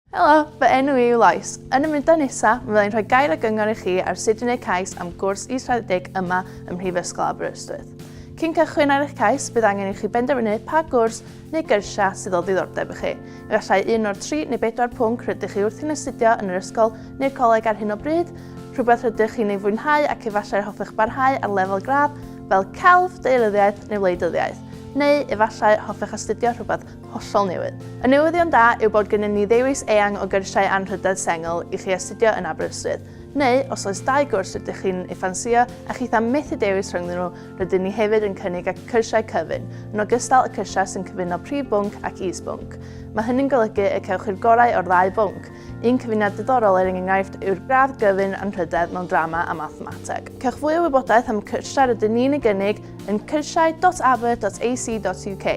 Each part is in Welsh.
Helo, fy enw i yw Lois. Yn y mudo nesa, fe fyddai'n rhoi gair a gyngor i chi ar sut i wneud cais am gwrs israddedig yma ym Mhrifysgol Aberystwyth. Cyn cychwyn ar eich cais, bydd angen i chi benderfynu pa gwrs neu gyrsia sydd o ddiddordeb i chi. Efallai un o'r tri neu bedwar pwnc rydych chi wrthi'n astudio yn yr ysgol neu'r coleg ar hyn o bryd, rhywbeth rydych chi'n ei fwynhau ac efallai'r hoffech barhau ar lefel gradd fel celf, deiryddiaeth neu wleidyddiaeth, neu efallai hoffech astudio rhywbeth hollol newydd. Y newyddion da yw bod gennym ni ddewis eang o gyrsiau anrhydedd sengl i chi astudio yn Aberystwyth, neu os oes dau gwrs rydych chi'n ei ffansïo a chith am methu dewis rhyngddyn nhw, rydyn ni hefyd yn cynnig ac cyrsiau cyfun, yn ogystal y cyrsiau sy'n cyfuno prif bwnc ac is-bwnc. Mae hynny'n golygu y cewch chi'r gorau o'r ddau bwnc. Un cyfuniad diddorol er enghraifft yw'r gradd gyfun anrhydedd mewn drama a mathemateg. Cewch fwy o wybodaeth am y cyrsiau rydyn ni'n ei gynnig yn cyrsiau.aber.ac.uk.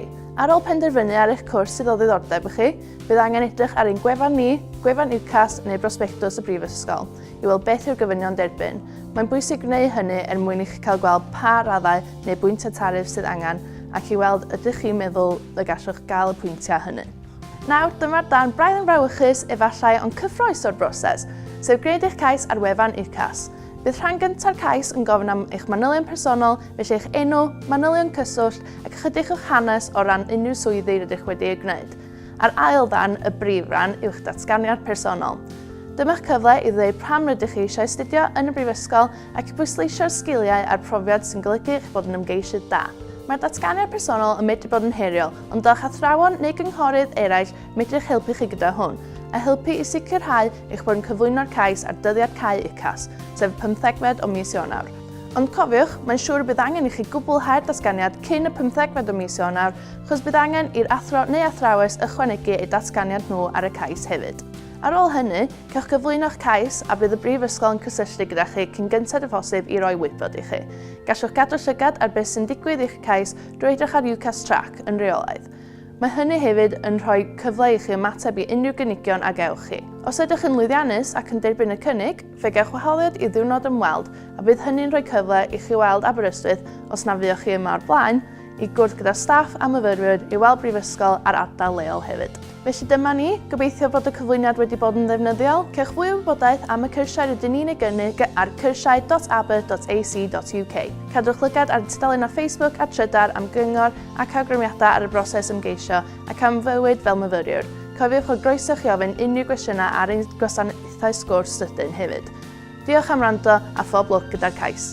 Ar ôl penderfynu ar eich cwrs sydd o ddiddordeb i chi, bydd angen edrych ar ein gwefan ni, gwefan UCAS neu brosbectws y Brifysgol i weld beth yw'r gofynion derbyn. Mae'n bwysig gwneud hynny er mwyn i chi cael gweld pa raddau neu bwyntiau tariff sydd angen ac i weld ydych chi'n meddwl y gallwch gael y pwyntiau hynny. Nawr, dyma'r darn braidd yn frawychus efallai ond cyffroes o'r broses, sef gwneud eich cais ar wefan UCAS. Bydd rhan gyntaf cais yn gofyn am eich manylion personol, felly eich enw, manylion cyswllt, ac ychydig o'ch hanes o ran unrhyw swyddi rydych wedi eu gwneud. A'r ail ddarn, y brif ran, yw'ch datganiad personol. Dyma'ch cyfle i ddweud pam rydych chi eisiau astudio yn y brifysgol ac i bwysleisio'r sgiliau a'r profiad sy'n golygu eich bod yn ymgeisydd da. Mae'r datganiad personol yn medru bod yn heriol, ond a'ch athrawon neu gynghorydd eraill medru eich helpu chi gyda hwn, a helpu i sicrhau eich bod yn cyflwyno'r cais ar dyddiad cau UCAS, sef y pymthegfed o mis Ionawr. Ond cofiwch, mae'n siŵr y bydd angen i chi gwblhau'r datganiad cyn y pymthegfed o mis Ionawr, chos bydd angen i'r athro neu athrawes ychwanegu eu datganiad nhw ar y cais hefyd. Ar ôl hynny, cewch gyflwyno'ch cais a bydd y Brifysgol yn cysylltu gyda chi cyn gynted â phosib i roi wybod i chi. Gallwch gadw llygad ar beth sy'n digwydd i'ch cais drwy edrych ar UCAS Track yn reolaidd. Mae hynny hefyd yn rhoi cyfle i chi ymateb i unrhyw gynigion a gewch chi. Os ydych yn lwyddiannus ac yn derbyn y cynnig, Fe gewch wahoddiad i ddiwrnod ymweld a bydd hynny'n rhoi cyfle i chi weld Aberystwyth os na fuoch chi yma o'r blaen, i gwrdd gyda staff a myfyrwyr, i weld brifysgol a'r ardal leol hefyd. Felly dyma ni, gobeithio fod y cyflwyniad wedi bod yn ddefnyddiol. Cewch fwy o wybodaeth am y cyrsiau rydyn ni'n ei gynnig ar cyrsiau.aber.ac.uk. Cadwch lygad ar ein tudalennau Facebook a Trydar am gyngor ac awgrymiadau ar y broses ymgeisio ac am fywyd fel myfyriwr. Cofiwch fod groeso chi ofyn unrhyw gwestiynau ar ein gwasanaethau pethau sgwrs sydyn hefyd. Diolch am rando a phob lwc gyda'r cais.